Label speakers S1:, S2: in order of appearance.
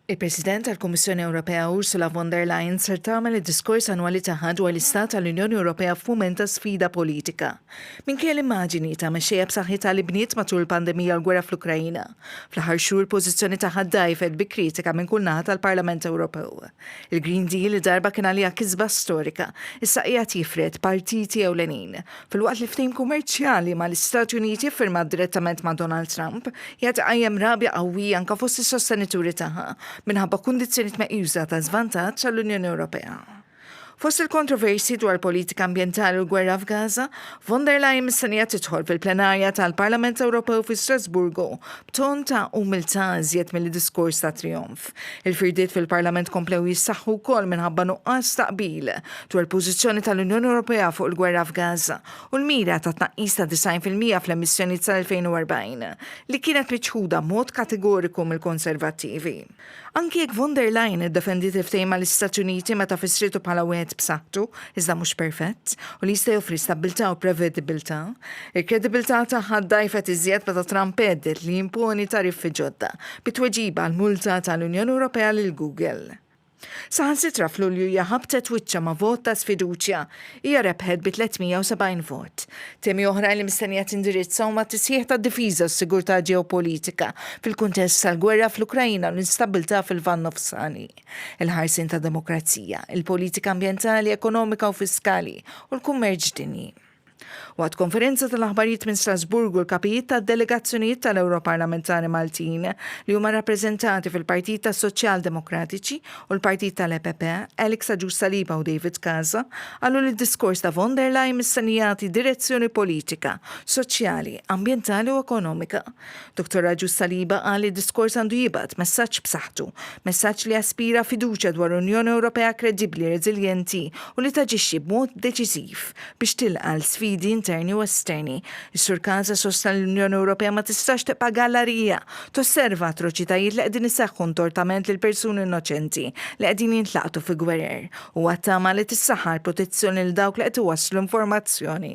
S1: Il-President tal-Kummissjoni Ewropea Ursula von der Leyen ser tagħmel id-diskors annwali tagħha dwar l-istat tal-Unjoni Ewropea f'mument ta' sfida politika. Minkejja l-immaġini ta' mexxejja b'saħħitha li bniet matul il-pandemija u l-gwerra fl-Ukraina, fl-aħħar xhur l-pożizzjoni tagħha ddgħajfet bi kritika minn kull naħa tal-Parlament Ewropew. Il-Green Deal li darba kien għaliha kisba storika, issa qiegħed jifred partiti ewlenin, Filwaqt li ftehim kummerċjali mal-Istati Uniti ffirmat direttament ma' Donald Trump qiegħed iqajjem rabja qawwija anke fost is-sostenituri tagħha minħabba kundizzjonijiet meqjusa ta' żvantaġġ għall-Unjoni Ewropea. Fost il-kontroversji dwar politika ambjentali u l-gwerra f'Gaza, von der Leyen mistennija tidħol fil-plenarja tal-Parlament Ewropew fi Strasburgu b'ton ta' umiltà iżjed milli diskors ta' trijonf. Il-firdiet fil-Parlament komplew jissaħħu wkoll minħabba nuqqas ta' qbil dwar il-pożizzjoni tal-Unjoni Ewropea fuq il-gwerra f'Gaza u l-mira ta' tnaqqis ta' 90% fl-emissjonijiet sal-2040 li kienet miċħuda b'mod kategoriku mill-Konservattivi. Anki jekk von der Leyen iddefendiet il-ftehim mal-Istati Uniti meta fissrietu bħala wieħed b'saħħtu, iżda mhux perfett, u li jista' joffri stabbiltà u prevedibbiltà, il-kredibilità tagħha ddgħajfet iżjed meta Trump għedded li jimponi tariffi ġodda bi tweġiba għall-multa tal-Unjoni Ewropea lil Google. Saħansitra f'Lulju hija ħabtet wiċċha ma' vot ta' sfiduċja. Hija rebħet bi 370 vot. Temi oħrajn li mistennija tindirizza huma t-tisħiħ tad-difiża u s-sigurtà ġeopolitika fil-kuntest tal-gwerra fl-Ukraina u l-instabbiltà fil-Lvant Nofsani. il-ħarsien tad-demokrazija, il-politika ambjentali, ekonomika u fiskali u l-kummerċ dinji. Waqt konferenza tal-aħbarijiet minn Strasburgu l-kapijiet tad-delegazzjonijiet tal-Ewro Parlamentari Maltin li huma rappreżentati fil-Partit tas-Soċjal Demokratiċi u l-Partit tal-EPP, Alex Aġus Saliba u David Casa, qalu li d-diskors ta' von der Leyen mistennijati direzzjoni politika, soċjali, ambjentali u ekonomika. Dottor Agius Saliba qal li d-diskors għandu jibgħat messaġġ b'saħħtu, messaġġ li jaspira fiduċja dwar Unjoni Ewropea kredibbli, reżiljenti u li taġixxi b'mod deċiżiv biex tilqa' l-sfidi interni u esterni. Is-Sur Casa sostna li l-Unjoni Ewropea ma tistax tibqa' gallarija tosserva atroċitajiet li qegħdin iseħħu ntortament lil persuni innoċenti li qegħdin jintlaqtu fi gwerer. Huwa ttama li tissaħħa l-protezzjoni lil dawk li qed iwasslu informazzjoni.